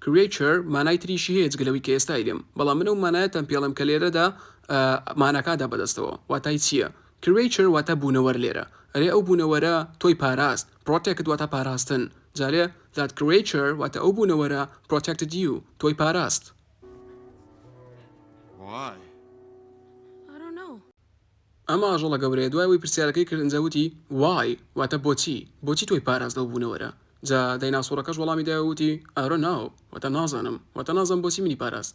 Creature مانای تریشی هەیە جگە لەوەی کە ئێستا ئیدم بەڵام من ئەو مانایەتان پێ ئەڵێم کە لێرەدا ماناکان دا بەدەستەوە واتای چییە Creature واتە بوونەوەر لێرە ئەرێ ئەو بوونەوەرە تۆی پاراست Protect واتە پاراستن جارێ That creature واتە ئەو بوونەوەرە Protected you تۆی پاراست. ئەم ئاژەڵە گەورەیە دوای ئەوەی پرسیارەکەی کرد ئنجا وتی Why واتە بۆچی بۆچی تۆی پاراست لەو بوونەوەرە جا دایناسۆڕەکەش وەڵامی دایەوە وتی I don't know واتە نازانم واتە نازانم بۆچی منی پاراست.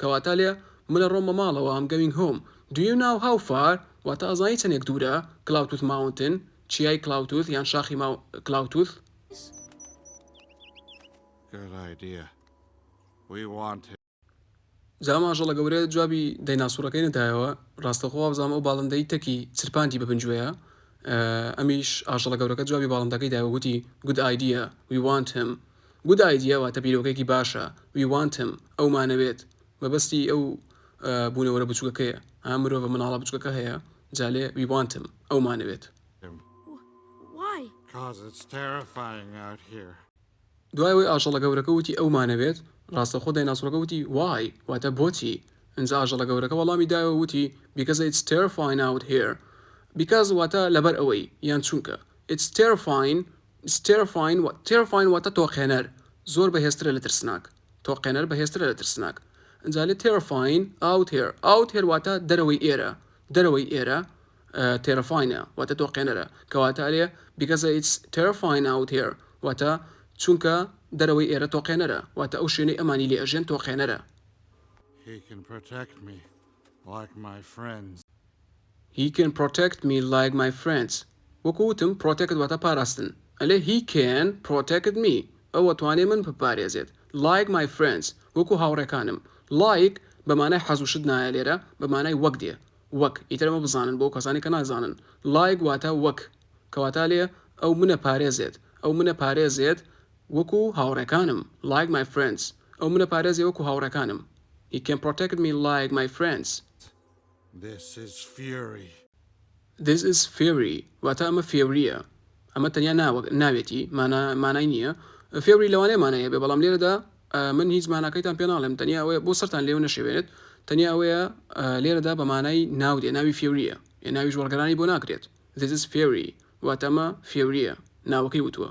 کەواتە لێ من ئەڕۆم بە ماڵەوە ئەم گەوینگ هۆم دو یو ناو هاو فار واتە ئەزانی چەنێک دورە کلاوتوث ماونتن چیای کلاوتوث یان شاخی ماو کلاوتوث. جا ئەم ئاژەڵە گەورەیە جوابی دەیناسوڕەکەی نەدایەوە ڕاستەوخۆ وابزانم ئەو باڵندەی تەکی چرپاندی بە بنجوێیا ئەمیش ئاژەڵە گەورەکە جوابی باڵندەکەی دایەوە گوتی Good idea we want him Good idea واتە بیرۆکەیەکی باشە We want him ئەومانەوێت مەبەستی ئەو بوونەوەرە بچووکەکەیە ها مرۆڤە منداڵە بچووکەکە هەیە جا لێ We want him ئەومانەوێت. دوای ئەوەی ئاژەڵە گەورەکە وتی ئەومانەوێت ڕاستەوخۆ دایناسۆرەکە وتی Why واتە بۆچی ئینجا ئاژەڵە گەورەکە وەڵامی دایەوە وتی Because it's terrifying out here Because واتە لەبەر ئەوەی یان چونکە It's terrifying Terrifying، Terrifying واتە تۆقێنەر، زۆر بەهێزترە لە ترسناک، تۆقێنەر بەهێزترە لە ترسناک. ئینجا لێ Terrifying out here، Out here واتە دەرەوەی ئێرە، دەرەوەی ئێرە Terrifying ە واتە تۆقێنەرە. کەواتە لێ Because it's terrifying out here واتە چونکە دەرەوەی ئێرە تۆقێنەرە، واتە ئەو شوێنەی ئەمانی لێ ئەژێن تۆقێنەرە. He can protect me، like my friends. He can protect me like my friends وەکو وتم protect واتە پاراستن ئەلێ He can protect me ئەو ئەتوانێ من بپارێزێت like my friends وەکو هاوڕێکانم Like بە مانای حەز و شت نایە لێرە بە مانای وەک دێ وەک ئیتر ئەمە بزانن بۆ ئەو کەسانەی کە نازانن Like واتە وەک کەواتە لێ ئەو منە پارێزێت ئەو منە پارێزێت وەکو هاوڕێکانم Like my friends ئەو منە پارێزێ وەکو هاوڕێکانم He can protect me like my friends. This is Fury. This is Fury واتە ئەمە فێورییە. ئەمە تەنیا ناوەک، ناوێتی، مانا، مانای نییە. فێوری لەوانەیە مانای هەبێت، بەڵام لێرەدا من هیچ ماناکەیتان پێ ناڵێم، تەنیا ئەوەیە بۆ سەرتان لێو نەشێوێنێت، تەنیا ئەوەیە لێرەدا بە مانای ناو دێ، ناوی فێورییە، ئێ ناویش وەڵگەرانی بۆ ناکرێت. This is Fury واتە ئەمە فێورییە، ناوەکەی وتووە.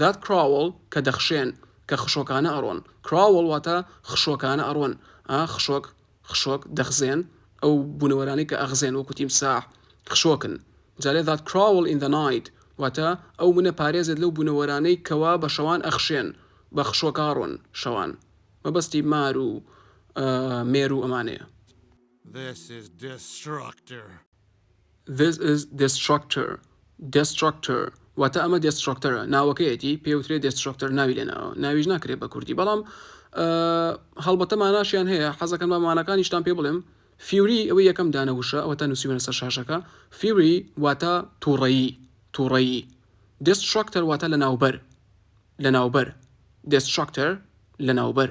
That crawl کە دەخشێن، کە خشۆکانە ئەڕۆن. Crawl واتە خشۆکانە ئەڕۆن، ئا خشۆک، خشۆک، دەخزێن، ئەو بوونەوەرانەی کە ئەخزێن وەکو تیمساح، خشۆکن. جارێ That crawl in the night واتە ئەو منە پارێزێت لەو بوونەوەرانەی کەوا بە شەوان ئەخشێن، بە خشۆکاڕۆن، شەوان. مەبەستی مار و مێرو ئەمانەیە. This is destructor. This is Destructor Destructor واتە ئەمە دێسترۆکتەرە ناوەکەیەتی پێوترێ دێسترۆکتەر ناوی لێ ناوە ناویش ناکرێت بە کوردی بەڵام هەڵبەتە ماناشیان هەیە حەزەکەم بە مانەکانیشتان پێ بڵێم فیوری ئەوەی یەکەم دانە وشە ئەوە تا نووسیوەە سەر شاشەکە فیوری واتە تووڕەیی تووڕەیی دێسترۆکتەر واتە لە ناوبەر لە ناوبەر دێسترۆکتەر لە ناوبەر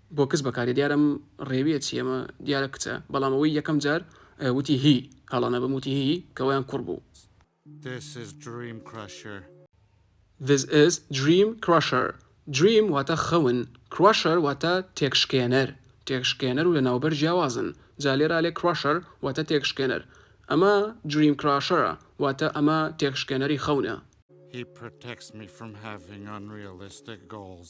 بۆکس بەکارێ دیارم ڕێویە چی ئەمە دیارە کچە بەڵام ئەوەی یەکەم جار وتی هی هەڵە نەبم وتی هی کەوایان کوڕ بوو. This is dream crusher. This is dream crusher. Dream واتە خەون Crusher واتە تێکشکێنەر تێکشکێنەر و لەناوبەر جیاوازن جا لێرە ئەلێ Crusher واتە تێکشکێنەر ئەمە Dream crusher ە واتە ئەمە تێکشکێنەری خەونە. He protects me from having unrealistic goals.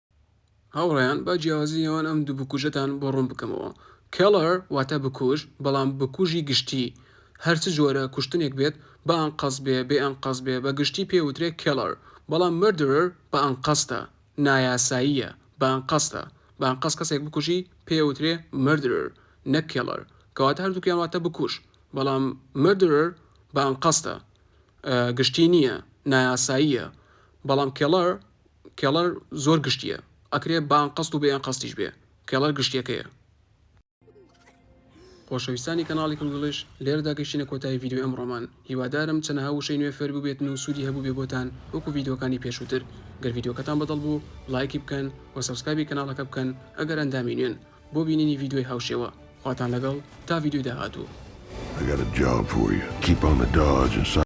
هاوڕێیان با جیاوازی نێوان ئەم دوو بکوژەتان بۆ ڕوون بکەمەوە کێڵەر واتە بکوژ بەڵام بکوژی گشتی هەرچ جۆرە کوشتنێک بێت بە ئەنقەز بێ بێ ئەنقەز بێ بە گشتی پێوترێ کێڵەر بەڵام مردرر بە ئەنقەستە نایاساییە بە ئەنقەستە بە ئەنقەست کەسێک بکوژی پێوترێ مردرر نەک کێڵەر کەواتە هەردووکیان واتە بکوژ بەڵام مردرر بە ئەنقەستە گشتی نییە نایاساییە بەڵام کێڵەر کێڵەر زۆر گشتیە ئەکرێ بە ئەنقەست و بێ ئەنقەستیش بێ کێڵەر گشتیەکەیە. خۆشەویستانی کەناڵی کلگڵش لێرەدا گەشتینە کۆتایی ڤیدیۆی ئەمڕۆمان هیوادارم چەنەها وشەی نوێ فێر ببێتن و سوودی هەبوو بێ بۆتان وەکو ڤیدیۆکانی پێشووتر گەر ڤیدیۆکەتان بەدڵ بوو لایکی بکەن و سەبسکرایبی کەناڵەکە بکەن ئەگەر ئەندامی نوێن بۆ بینینی ڤیدیۆی هاوشێوە خواتان لەگەڵ تا ڤیدیۆی داهاتوو. ئەگەر جاف بووی کیپامە داجن سەر.